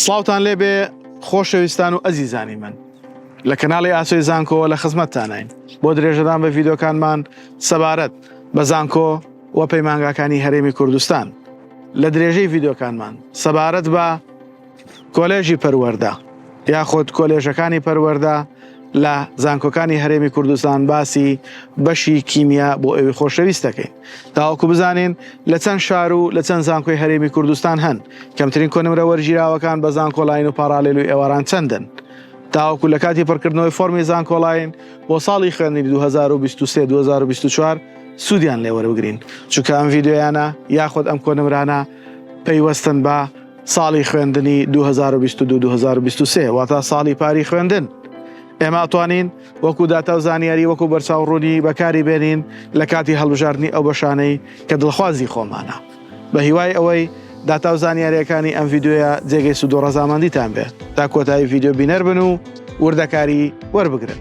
سڵاوتان لێبێ خۆشەویستان و ئەزیزانی من لە کەناڵی ئاسۆی زانکۆوە لە خزمەتتانین بۆ درێژەدان بە ڤیدۆکانمان سەبارەت بە زانکۆ و پەیمانگاکانی هەرێمی کوردستان لە درێژەی ڤیدۆکانمان سەبارەت بە کۆلێژی پەروەەردە یاخود کۆلێژەکانی پەروەەردە لە زانکۆکانی هەرێمی کوردستان باسی بەشی کیمیا بۆ ئەوی خۆشەویست دەکەین. تاوەکو بزانین لە چەند شار و لە چەند زانکۆی هەرێمی کوردستان هەن کەمترین کۆنمرە وەرگیراوەکان بە زانکۆلاین و پاراالێل و ئێواران چەندن تاوەکو لە کاتی پڕکردنەوەی فۆرمی زانکۆلاین بۆ ساڵی خوێندنی 2023 2024 سوودیان لێوەربگرین چونکە ئەم ڤیددیویانە یاخود ئەم کۆنمرانە پەیوەستن بە ساڵی خوێندنی 2022 2023 واتا ساڵی پاری خوێندن ئێمە توانین وەکو داتا و زانیاری وەکو بەرچاو ڕوونی بەکاری بێنین لە کاتی هەڵبژاردنی ئەو بەشانەی کە دڵخوازی خۆمانە بە هیوای ئەوەی داتا و زانیاریەکانی ئەم یددیوە جێگەی سوود و ڕەزامەندیتان بێت تا کۆتایی یددیو بینەر بن و وردەکاری وەربگرن.